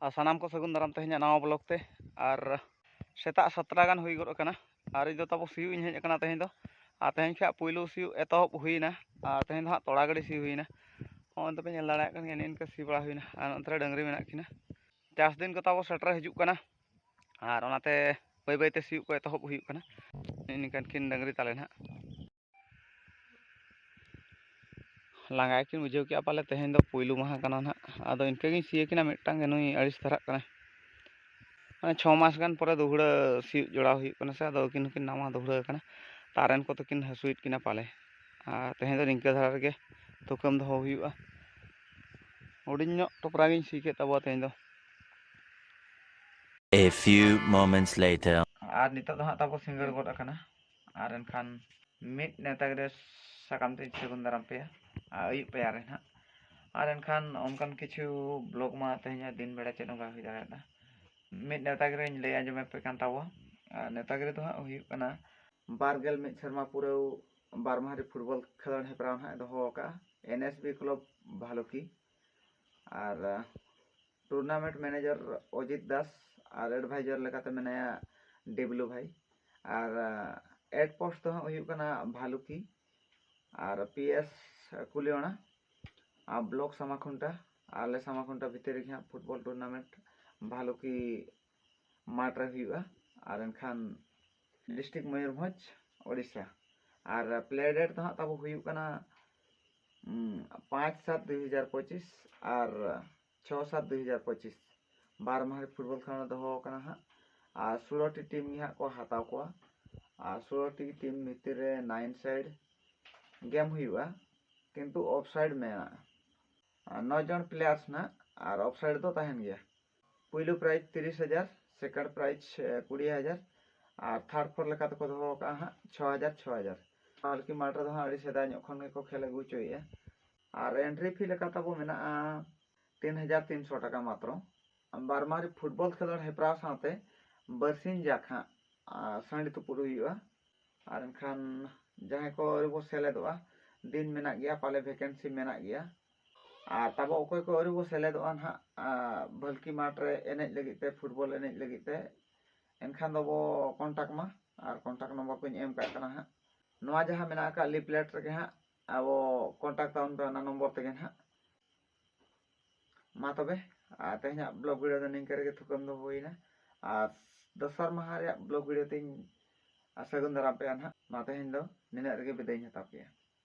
ᱟᱨ ᱥᱟᱱᱟᱢ ᱠᱚ ᱥᱟᱹᱜᱩᱱ ᱫᱟᱨᱟᱢ ᱛᱮᱦᱮᱧᱟᱜ ᱱᱟᱣᱟ ᱵᱞᱚᱜ ᱛᱮ ᱟᱨ ᱥᱮᱛᱟᱜ ᱥᱟᱛᱴᱟ ᱜᱟᱱ ᱦᱩᱭ ᱜᱚᱫ ᱟᱠᱟᱱᱟ ᱟᱨ ᱤᱧ ᱫᱚ ᱛᱟᱵᱚ ᱥᱤᱭᱳᱜ ᱤᱧ ᱦᱮᱡ ᱟᱠᱟᱱᱟ ᱛᱮᱦᱮᱧ ᱫᱚ ᱟᱨ ᱛᱮᱦᱮᱧ ᱠᱷᱟᱱ ᱯᱩᱭᱞᱩ ᱥᱤᱭᱳᱜ ᱮᱛᱚᱦᱚᱵ ᱦᱩᱭᱮᱱᱟ ᱟᱨ ᱛᱮᱦᱮᱧ ᱫᱚ ᱦᱟᱸᱜ ᱛᱚᱲᱟ ᱜᱟᱹᱰᱤ ᱥᱤ ᱦᱩᱭᱮᱱᱟ ᱦᱚᱸᱜᱼᱚᱭ ᱫᱚᱯᱮ ᱧᱮᱞ ᱫᱟᱲᱮᱭᱟᱜ ᱠᱟᱱ ᱜᱮᱭᱟ ᱱᱤᱝᱠᱟᱹ ᱥᱤ ᱵᱟᱲᱟ ᱦᱩᱭᱮᱱᱟ ᱟᱨ ᱱᱚᱛᱮ ᱨᱮ ᱰᱟᱹᱝᱨᱤ ᱢᱮᱱᱟᱜ ᱠᱤᱱᱟ ᱪᱟᱥ ᱫᱤᱱ ᱠᱚ ᱛᱟᱵᱚ ᱥᱮᱴᱮᱨ ᱦᱤᱡᱩᱜ ᱠᱟᱱᱟ ᱟᱨ ᱚᱱᱟᱛᱮ ᱵᱟᱹᱭ ᱵᱟᱹᱭᱛᱮ ᱥᱤᱭᱳᱜ ᱠᱚ ᱮᱛᱚᱦᱚᱵ ᱦᱩᱭᱩᱜ ᱠᱟᱱᱟ ᱱᱤᱝᱠᱟᱹᱱ ᱠᱤᱱ ᱰᱟᱹᱝᱨᱤ ᱛᱟᱞᱮ ᱱᱟᱦᱟᱜ ᱞᱟᱸᱜᱟ ᱜᱮᱠᱤᱱ ᱵᱩᱡᱷᱟᱹᱣ ᱠᱮᱜᱼᱟ ᱯᱟᱞᱮ ᱛᱮᱦᱮᱧ ᱫᱚ ᱯᱩᱭᱞᱩ ᱢᱟᱦᱟ ᱠᱟᱱᱟ ᱱᱟᱜ ᱟᱫᱚ ᱤᱱᱠᱟᱹ ᱜᱤᱧ ᱥᱤᱭᱮ ᱠᱤᱱᱟ ᱢᱤᱫᱴᱟᱝ ᱜᱮ ᱱᱩᱭ ᱟᱹᱲᱤᱥ ᱫᱷᱟᱨᱟᱜ ᱠᱟᱱᱟ ᱢᱟᱱᱮ ᱪᱷᱚ ᱢᱟᱥ ᱜᱟᱱ ᱯᱚᱨᱮ ᱫᱩᱦᱲᱟᱹ ᱥᱤᱭᱳᱜ ᱡᱚᱲᱟᱣ ᱦᱩᱭᱩᱜ ᱠᱟᱱᱟ ᱥᱮ ᱟᱫᱚ ᱟᱹᱠᱤᱱ ᱦᱚᱸᱠᱤᱱ ᱱᱟᱣᱟ ᱫᱩᱦᱲᱟᱹ ᱠᱟᱱᱟ ᱛᱟᱨᱮᱱ ᱠᱚ ᱛᱟᱹᱠᱤᱱ ᱦᱟᱹᱥᱩᱭᱮᱫ ᱠᱤᱱᱟ ᱯᱟᱞᱮ ᱟᱨ ᱛᱮᱦᱮᱧ ᱫᱚ ᱱᱤᱝᱠᱟᱹ ᱫᱷᱟᱨᱟ ᱨᱮᱜᱮ ᱛᱩᱠᱟᱹᱢ ᱫᱚᱦᱚ ᱦᱩᱭᱩᱜᱼᱟ ᱦᱩᱰᱤᱧ ᱧᱚᱜ ᱴᱚᱯᱨᱟ ᱜᱤᱧ ᱥᱤ ᱠᱮᱫ ᱛᱟᱵᱚᱣᱟ ᱛᱮᱦᱮᱧ ᱫᱚ A few moments later. ᱟᱨ ᱱᱤᱛᱚᱜ ᱫᱚ ᱦᱟᱸᱜ ᱛᱟᱵᱚ ᱥᱤᱸᱜᱟᱹᱲ ᱜᱚᱫ ᱟᱠᱟᱱᱟ ᱟᱨ ᱮᱱᱠᱷᱟᱱ ᱢᱤᱫ ᱱᱮᱣᱛᱟ ᱜᱤᱨᱟᱹ ᱥᱟᱠᱟᱢ ᱛᱮᱧ ᱥᱟᱹᱜᱩᱱ ᱫᱟᱨᱟᱢ ᱯᱮᱭᱟ ᱟᱨ ᱟᱹᱭᱩᱵ ᱯᱟᱭᱟᱨ ᱨᱮ ᱱᱟᱦᱟᱜ ᱟᱨ ᱮᱱᱠᱷᱟᱱ ᱚᱱᱠᱟᱱ ᱠᱤᱪᱷᱩ ᱵᱞᱚᱜᱽ ᱢᱟ ᱛᱮᱦᱮᱧᱟᱜ ᱫᱤᱱ ᱵᱮᱲᱟ ᱪᱮᱫ ᱦᱚᱸ ᱵᱟᱭ ᱦᱩᱭ ᱫᱟᱲᱮᱭᱟᱫᱟ ᱢᱤᱫ ᱱᱮᱣᱛᱟ ᱜᱤᱨᱟᱹᱧ ᱞᱟᱹᱭ ᱟᱸᱡᱚᱢᱟᱯᱮ ᱠᱟᱱ ᱛᱟᱵᱚᱣᱟ ᱟᱨ ᱱᱮᱣᱛᱟ ᱜᱤᱨᱟᱹ ᱫᱚ ᱦᱟᱸᱜ ᱦᱩᱭᱩᱜ ᱠᱟᱱᱟ ᱵᱟᱨ ᱜᱮᱞ ᱢᱤᱫ ᱥᱮᱨᱢᱟ ᱯᱩᱨᱟᱹᱣ ᱵᱟᱨ ᱢᱟᱦᱟᱨᱤ ᱯᱷᱩᱴᱵᱚᱞ ᱠᱷᱮᱞᱳᱰ ᱦᱮᱯᱨᱟᱣ ᱱᱟᱦᱟᱜ ᱫᱚᱦᱚ ᱟᱠᱟᱫᱼᱟ N S B club Bhaluki ᱟᱨ ᱴᱩᱨᱱᱟᱢᱮᱱᱴ ᱢᱮᱱᱮᱡᱟᱨ ᱚᱡᱤᱛ ᱫᱟᱥ ᱟᱨ ᱮᱰᱵᱷᱟᱭᱡᱟᱨ ᱞᱮᱠᱟᱛᱮ ᱢᱮᱱᱟᱭᱟ ᱰᱮᱵᱞᱩ ᱵᱷᱟᱭ ᱟᱨ ᱮᱰ ᱯᱳᱥᱴ ᱫᱚ ᱦᱟᱸᱜ ᱦᱩᱭᱩᱜ ᱠᱟᱱᱟ ᱵᱷᱟᱞᱩᱠᱤ ᱟᱨ ᱯᱤ ᱮᱥ ᱠᱩᱞᱤᱭᱚᱱᱟ ᱟᱨ ᱵᱞᱚᱠ ᱥᱟᱢᱟᱠᱷᱩᱱᱴᱟ ᱟᱞᱮ ᱥᱟᱢᱟᱠᱷᱩᱱᱴᱟ ᱵᱷᱤᱛᱤᱨ ᱨᱮᱜᱮ ᱦᱟᱸᱜ ᱯᱷᱩᱴᱵᱚᱞ ᱴᱩᱨᱱᱟᱢᱮᱱᱴ ᱵᱷᱟᱞᱩᱠᱤ ᱢᱟᱴᱷ ᱨᱮ ᱦᱩᱭᱩᱜᱼᱟ ᱟᱨ ᱮᱱᱠᱷᱟᱱ ᱰᱤᱥᱴᱨᱤᱠ ᱢᱚᱭᱩᱨᱵᱷᱚᱸᱡᱽ ᱳᱰᱤᱥᱟ ᱟᱨ ᱯᱞᱮ ᱰᱮᱴ ᱫᱚ ᱦᱟᱸᱜ ᱛᱟᱵᱚ ᱦᱩᱭᱩᱜ ᱠᱟᱱᱟ ᱯᱟᱸᱪ ᱥᱟᱛ ᱫᱩᱭ ᱦᱟᱡᱟᱨ ᱯᱚᱸᱪᱤᱥ ᱟᱨ ᱪᱷᱚ ᱥᱟᱛ ᱫᱩᱭ ᱦᱟᱡᱟᱨ ᱯᱚᱸᱪᱤᱥ ᱵᱟᱨ ᱢᱟᱦᱟ ᱯᱷᱩᱴᱵᱚᱞ ᱠᱷᱮᱞᱳᱰ ᱫᱚᱦᱚ ᱟᱠᱟᱱᱟ ᱦᱟᱸᱜ ᱟᱨ ᱥᱳᱞᱳᱴᱤ ᱴᱤᱢ ᱜᱮ ᱦᱟᱸᱜ ᱠᱚ ᱦᱟᱛᱟᱣ ᱠᱚᱣᱟ ᱟᱨ ᱥᱳᱞᱳᱴᱤ ᱴᱤᱢ ᱵᱷᱤᱛᱤᱨ ᱨᱮ ᱱᱟᱭᱤᱱ ᱥᱟᱭᱤᱰ ᱜᱮᱢ ᱦᱩᱭᱩᱜᱼᱟ ᱠᱤᱱᱛᱩ ᱚᱯᱷ ᱥᱟᱭᱤᱰ ᱢᱮᱱᱟᱜᱼᱟ ᱱᱚ ᱡᱚᱱ ᱯᱞᱮᱭᱟᱨᱥ ᱱᱟᱜ ᱟᱨ ᱚᱯᱷ ᱥᱟᱭᱤᱰ ᱫᱚ ᱛᱟᱦᱮᱱ ᱜᱮᱭᱟ ᱯᱩᱭᱞᱩ ᱯᱨᱟᱭᱤᱡᱽ ᱛᱤᱨᱤᱥ ᱦᱟᱡᱟᱨ ᱥᱮᱠᱮᱱᱰ ᱯᱨᱟᱭᱤᱡᱽ ᱠᱩᱲᱤ ᱦᱟᱡᱟᱨ ᱟᱨ ᱛᱷᱟᱨᱰ ᱯᱷᱳᱨ ᱞᱮᱠᱟ ᱛᱮᱠᱚ ᱫᱚᱦᱚ ᱟᱠᱟᱫᱼᱟ ᱦᱟᱸᱜ ᱪᱷᱚ ᱦᱟᱡᱟᱨ ᱪᱷᱚ ᱦᱟᱡᱟᱨ ᱯᱟᱞᱠᱤ ᱢᱟᱴᱷ ᱨᱮᱫᱚ ᱦᱟᱸᱜ ᱟᱹᱰᱤ ᱥᱮᱫᱟᱭ ᱧᱚᱜ ᱠᱷᱚᱱ ᱜᱮᱠᱚ ᱠᱷᱮᱞ ᱟᱹᱜᱩ ᱦᱚᱪᱚᱭᱮᱫᱼᱟ ᱟᱨ ᱮᱱᱴᱨᱤ ᱯᱷᱤ ᱞᱮᱠᱟ ᱛᱟᱵᱚ ᱢᱮᱱᱟᱜᱼᱟ ᱛᱤᱱ ᱦᱟᱡᱟᱨ ᱛᱤᱱᱥᱚ ᱴᱟᱠᱟ ᱢᱟᱛᱨᱚ ᱵᱟᱨᱢᱟᱨᱤ ᱯᱷᱩᱴᱵᱚᱞ ᱠᱷᱮᱞᱳᱰ ᱦᱮᱯᱨᱟᱣ ᱥᱟᱶᱛᱮ ᱵᱟᱹᱨᱥᱤᱧ ᱡᱟᱠ ᱦᱟᱸᱜ ᱥᱟᱺᱰᱤ ᱛᱩᱯᱩᱫ ᱦᱩᱭᱩᱜᱼᱟ ᱟᱨ ᱮᱱᱠᱷᱟᱱ ᱡᱟᱦᱟᱸᱭ ᱠᱚ ᱟᱹᱣᱨᱤ ᱵᱚ ᱥᱮᱞᱮᱫᱚᱜᱼᱟ ᱫᱤᱱ ᱢᱮᱱᱟᱜ ᱜᱮᱭᱟ ᱯᱟᱞᱮ ᱵᱷᱮᱠᱮᱱᱥᱤ ᱢᱮᱱᱟᱜ ᱜᱮᱭᱟ ᱟᱨ ᱛᱟᱵᱚ ᱚᱠᱚᱭ ᱠᱚ ᱟᱹᱣᱨᱤ ᱵᱚ ᱥᱮᱞᱮᱫᱚᱜᱼᱟ ᱱᱟᱦᱟᱜ ᱵᱷᱟᱹᱞᱠᱤ ᱢᱟᱴᱷ ᱨᱮ ᱮᱱᱮᱡ ᱞᱟᱹᱜᱤᱫ ᱛᱮ ᱯᱷᱩᱴᱵᱚᱞ ᱮᱱᱮᱡ ᱞᱟᱹᱜᱤᱫ ᱛᱮ ᱮᱱᱠᱷᱟᱱ ᱫᱚ ᱵᱚ ᱠᱚᱱᱴᱟᱠᱴ ᱢᱟ ᱟᱨ ᱠᱚᱱᱴᱟᱠᱴ ᱱᱚᱢᱵᱚᱨ ᱠᱚᱧ ᱮᱢ ᱠᱟᱜ ᱠᱟᱱᱟ ᱦᱟᱸᱜ ᱱᱚᱣᱟ ᱡᱟᱦᱟᱸ ᱢᱮᱱᱟᱜ ᱟᱠᱟᱫ ᱞᱤᱯᱞᱮᱴ ᱨᱮᱜᱮ ᱦᱟᱸᱜ ᱟᱵᱚ ᱠᱚᱱᱴᱟᱠᱴ ᱛᱟᱵᱚᱱ ᱯᱮ ᱚᱱᱟ ᱱᱚᱢᱵᱚᱨ ᱛᱮᱜᱮ ᱦᱟᱸᱜ ᱢᱟ ᱛᱚᱵᱮ ᱟᱨ ᱛᱮᱦᱮᱧᱟᱜ ᱵᱞᱚᱜ ᱵᱷᱤᱰᱤᱭᱳ ᱫᱚ ᱱᱤᱝᱠᱟᱹ ᱨᱮᱜᱮ ᱛᱷᱩᱠᱟᱹᱢ ᱫᱚ ᱦᱩᱭᱱᱟ ᱟᱨ ᱫᱚᱥᱟᱨ ᱢᱟᱦᱟ ᱨᱮᱭᱟᱜ ᱵᱞᱚᱜ ᱵᱷᱤᱰᱤᱭᱳ ᱛᱤᱧ ᱥᱟᱹᱜᱩᱱ ᱫᱟᱨᱟᱢ ᱯᱮᱭᱟ ᱦᱟᱸᱜ ᱢᱟ ᱛᱮᱦᱮᱧ ᱫᱚ ᱱᱤᱱᱟᱹᱜ ᱨᱮᱜᱮ ᱵᱤᱫᱟᱹᱭᱤᱧ ᱦᱟᱛᱟᱣ ᱯᱮᱭᱟ